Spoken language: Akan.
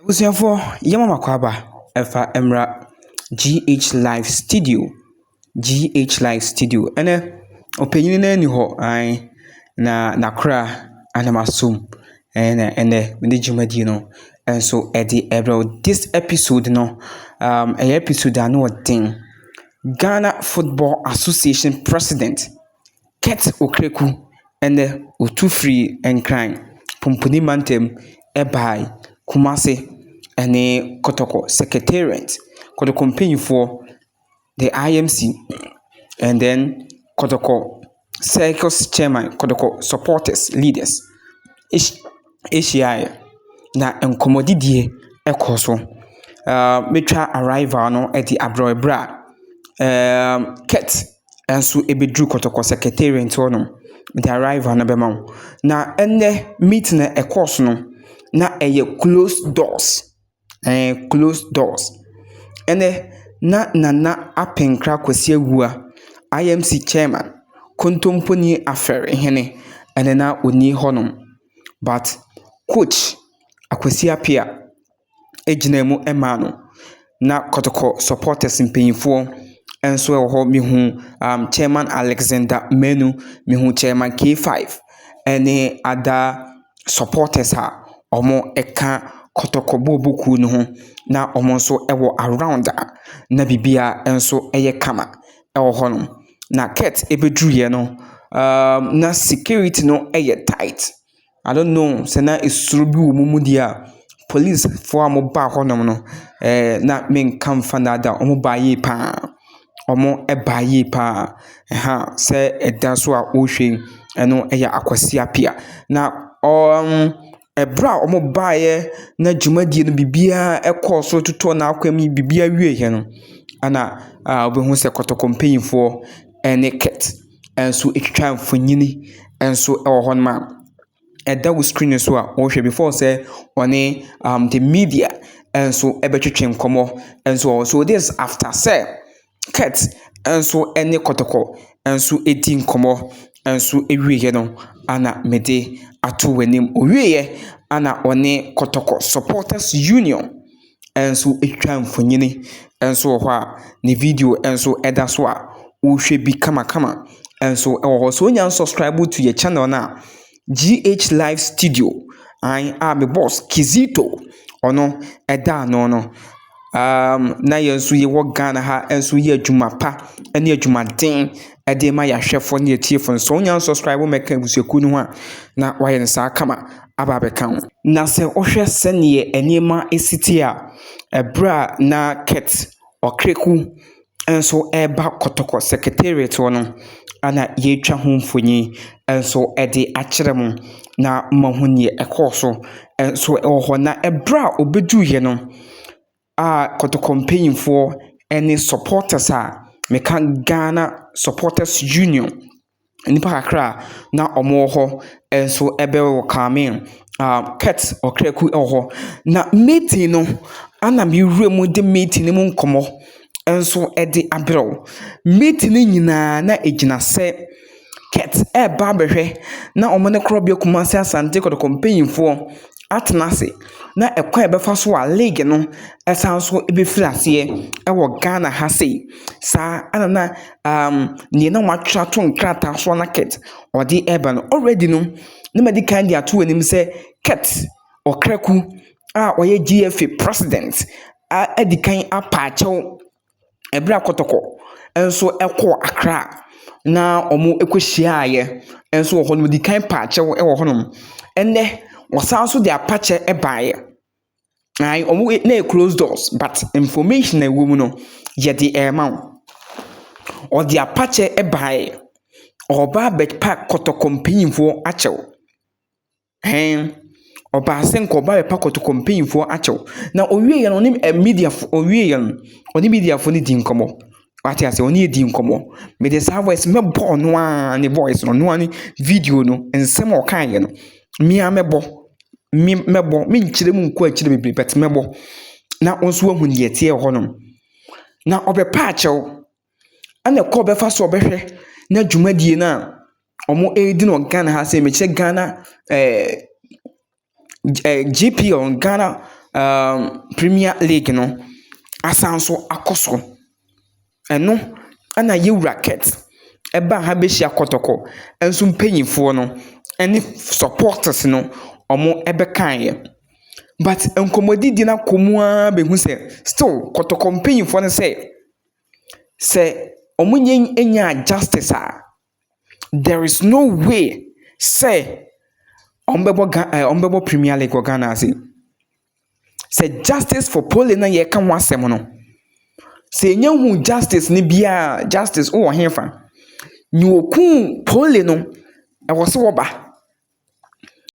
Abusuafoɔ, yɛma mo akwaaba ɛfa mmra GH live studio, GH live studio, ɛnɛ ɔpanyini no ani hɔ aane na nakora anam asom ɛna ɛnɛ mede dwumadie no nso ɛde ɛbrɛ wo. This episode no um, ɛyɛ episode ano ɔden. Ghana Football Association President Kurt Okraku ɛnnɛ ɔtu firii Nkran, Pumpuni Mantam ɛbae Kumase ɛne Kotoko Secretariat, Kotoko mpaninfoɔ, the IMC and then Kotoko Circles Chairman, Kotoko supporters, leaders ɛhyiaeɛ na nkɔmmɔdidie ɛkɔɔ so. Mɛtwa arrival no ɛde abrɛ wo ɛberɛ a Kurt nso bɛduru kɔtɔkɔ secretariat hɔ nom de arrival no bɛma wo. Na ɛnnɛ meeting a ɛkɔɔ so no, na ɛyɛ close doors, ɛɛ close doors. Ɛnnɛ, na Nana Apenkra Kwasi Awuah, IMC chairman, Kontomponi Afɛr hene, ɛnna na ɔnni hɔnom. But Coach Akwasi Appiah. gyinaa mu maa no. Na kɔtɔkɔ supporters mpanyimfoɔ nso wɔ hɔ. Mehu um Chairman Alexander Manu, mehu Chairman K5 ne other supporters a wɔka kɔtɔkɔ booboo kuo no ho, na wɔn nso wɔ around a na biribiara nso yɛ kama wɔ hɔnom. Na Kurt bɛduruiɛ no, um na security no yɛ tight. I don't know sɛ na suro bi wɔ wɔn mu deɛ a, polisfoɔ a wɔbaa hɔnom no, ɛɛ na menka mfa nnaadaa wo, wɔbaa yie pa ara. Wɔbaa yie pa ara. Ɛha sɛ ɛda so a wohwɛ yi, ɛno yɛ Akwasi Appiah. Na ɔɔm ɛberɛ a wɔbaeɛ na dwumadie no biribiara kɔɔ so totɔɔ n'akwam yi, biribiara wieeɛ no, ɛna wobɛhu sɛ kɔtɔkɔ mpanimfoɔ ne Kit nso ɛtwitwa mfonini nso wɔ hɔnom a ɛda wo screen no so a wɔhwɛ before sɛ wɔne um the media nso ɛbɛtwetwe nkɔmmɔ nso wɔ hɔ. So this is after sɛ Kurt nso ɛne Kɔtɔkɔ nso ɛdi nkɔmmɔ nso ɛwieeɛ no ɛna mede ato w'anim. Ɔwieeɛ ɛna ɔne Kɔtɔkɔ supporters union nso retwa mfonini nso wɔ hɔ a ne video nso da so a wohwɛ bi kamakama nso wɔ hɔ. So wonya unsubscribe to yɛn channel no a, GH Live Studio, aane a me boss Kizito ɔno da ano no. Um, na yɛn nso yɛwɔ Ghana ha nso yɛ adwuma pa ne adwumaden de ma yɛahwɛfoɔ ne yɛtiefoɔ no. So wonya unsubscribe mɛka abusuakuo no ho a, na wayɛ no saa kama. aba abɛka ho. Na sɛ wohwɛ sɛdeɛ nneɛma asi te a, ɛberɛ a na Kurt Ɔkreku nso reba Kɔtɔkɔ Secretariat hɔ no, ɛna yɛatwa ho mfoni nso de akyerɛ mo na moahu deɛ ɛkɔɔ so nso wɔ hɔ. Na ɛberɛ a ɔbɛduruiɛ no, a kɔtɔkɔ mpanyimfoɔ ne supporters a meka Ghana supporters union nnipa kakra a na wɔwɔ hɔ nso bɛ wɔ welcome aah Kurt Ɔkraku wɔ hɔ. Na meeting no, ɛna me wura mu de meeting no mu nkɔmmɔ nso de abrɛ wo. Meeting no nyinaa na ɛgyina sɛ. Kurt reba abɛhwɛ na wɔn ne Korɔbea Kumasi Asante Kɔtɔkɔ mpanyinfoɔ atena ase na ɛkwan a ɛbɛfa so a league no ɛsan so bɛfiri aseɛ ɛwɔ Ghana ha sei. Saa ara na deɛ na wɔatwerɛ ato nkrataa so na Kurt ɔde reba no. Already no na madi kan de ato w'anim sɛ Kurt Ɔkraku a ɔyɛ GFA president adi kan apa akyɛw. Ɛberɛ a Kɔtɔkɔ nso kɔɔ Accra na wɔkɔhyiaaeɛ nso wɔ hɔ no, wɔdii kan paa kyɛw wɔ hɔnom. Ɛnnɛ, wɔsan nso de apa kyɛ baeɛ. Ae, wɔn wei na ɛyɛ closed doors but information a ɛwɔ mu no, yɛde rema wo. Wɔde apa kyɛ baeɛ. Wɔreba abɛpa Kɔtɔkɔ mpanimfoɔ akyɛw. Ɛɛn, ɔbaa sɛ nka ɔbɛpa kɔtɔkɔ mpanyimfoɔ akyɛw. Na ɔwieeɛ no, ɔne mediafoɔ, ɔwieeɛ no, ɔne mediafoɔ no dii nkɔmmɔ. Wate aseɛ, ɔne yɛdii nkɔmmɔ. Mede saa voice no mɛbɔ ɔno ara ne voice no, ɔno ara ne video no, nsɛm a ɔkaeɛ no, me ara mɛbɔ. Me mɛbɔ, menkyerɛ mu nkɔ akyiri bebree but mɛbɔ na wo nso woahu deɛ ɛteɛ wɔ hɔnom. Na ɔbɛpa akyɛw. Ɛna kwan a ɔbɛfa so ɔbɛhwɛ na dwumadie no a wɔredi no wɔ Ghana ha sɛ mekyerɛ Ghana ɛɛ GPO Ghana ɛɛm Premier League no asan so akɔ so. Ɛno ɛna yɛwura Kurt ɛbaa ha bɛhyia Kɔtɔkɔ nso mpaninfoɔ no ɛne supporters no wɔbɛkaeɛ. But nkɔmmɔdidie no akɔ mu ara bɛhu sɛ still Kɔtɔkɔ mpaninfoɔ no sɛ. sɛ ɔmo nnya nyaa justice a, there is no way sɛ ɔmo bɛbɔ Gha ɛɛ ɔmo bɛbɔ Premier League wɔ Ghana ase. Sɛ justice for Pole no a yɛreka ho asɛm no, sɛ yɛnnya nhuu justice no bi a, justice wowɔ he fa? Nea okuu Pole no, ɛwɔ sɛ ɔba.